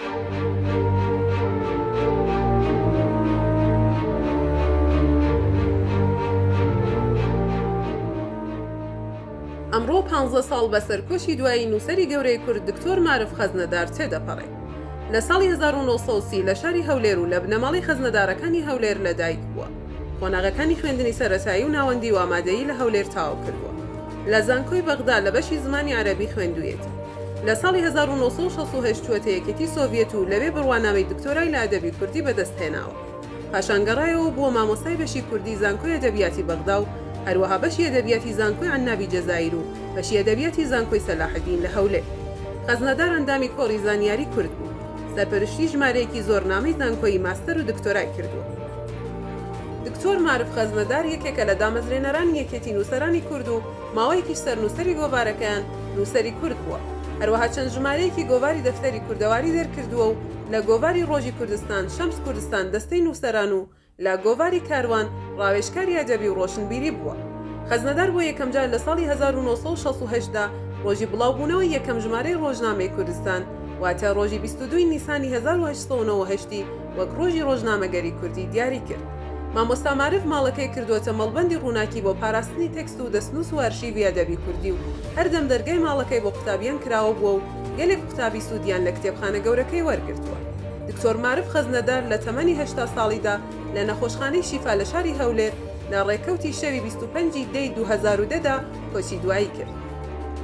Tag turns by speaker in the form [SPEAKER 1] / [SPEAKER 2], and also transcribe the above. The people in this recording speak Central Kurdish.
[SPEAKER 1] ئەمڕۆ پانزە ساڵ بە سەرکۆچی دوایی نووسەری گەورەی کورد دکتۆر مارف خەزنەدار تێدەپەڕێ. لە ساڵی هەزار و نۆ سەد و سی لە شاری هەولێر و لە بنەماڵەی خەزنەدارەکانی هەولێر لە دایک بووە. قۆناغەکانی خوێندنی سەرەتایی و ناوەندی و ئامادەیی لە هەولێر تەواو کردووە. لە زانکۆی بەغدا لە بەشی زمانی عەرەبی خوێندوویەتی. لە ساڵی هەزار و نۆ سەد و شەست و هەشت چووەتە یەکێتی سۆڤیەت و لەوێ بڕوانامەی دکتۆرای لە ئەدەبی کوردی بەدەست هێناوە. پاشان گەڕایەوە و بووە مامۆستای بەشی کوردی زانکۆی ئەدەبیاتی بەغدا و هەروەها بەشی ئەدەبیاتی زانکۆی عنابی جەزائیر و بەشی ئەدەبیاتی زانکۆی سەلاحەدین لە هەولێر. خەزنەدار ئەندامی کۆڕی زانیاری کورد بوو. سەرپەرشتیی ژمارەیەکی زۆر نامەی زانکۆیی ماستەر و دکتۆرای کردووە. دکتۆر مارف خەزنەدار یەکێکە لە دامەزرێنەرانی یەکێتی نووسەرانی کورد و ماوەیەکیش سەرنووسەری گۆڤارەکەیان نووسەری کورد بووە هەروەها چەند ژمارەیەکی گۆڤاری دەفتەری کوردەواری دەرکردووە و لە گۆڤاری ڕۆژی کوردستان، شەمس کوردستان، دەستەی نووسەران و لە گۆڤاری کاروان ڕاوێژکاری ئەدەبی و ڕۆشنبیری بووە. خەزنەدار بۆ یەکەمجار لە ساڵی هەزار و نۆ سەد و شەست و هەشت دا ڕۆژی بڵاوبوونەوەی یەکەم ژمارەی ڕۆژنامەی کوردستان واتە ڕۆژی بیست و دوو ی نیسانی هەزار و هەشت سەد و نەوەد و هەشت ی وەک ڕۆژی ڕۆژنامەگەری کوردی دیاری کرد، مامۆستا مارف ماڵەکەی کردووەتە مەڵبەندی ڕووناکی بۆ پاراستنی تێکست و دەستنووس و ئەرشیڤی ئەدەبی کوردی و هەردەم دەرگای ماڵەکەی بۆ قوتابیان کراوە بووە و گەلێک قوتابی سوودیان لە کتێبخانە گەورەکەی وەرگرتووە. دکتۆر مارف خەزنەدار لە تەمەنی هەشتا ساڵیدا لە نەخۆشخانەی شیفا لە شاری هەولێر لە ڕێکەوتی شەوی بیست و پەنج ی دەی دوو هەزار و دە دا کۆچی دوایی کرد.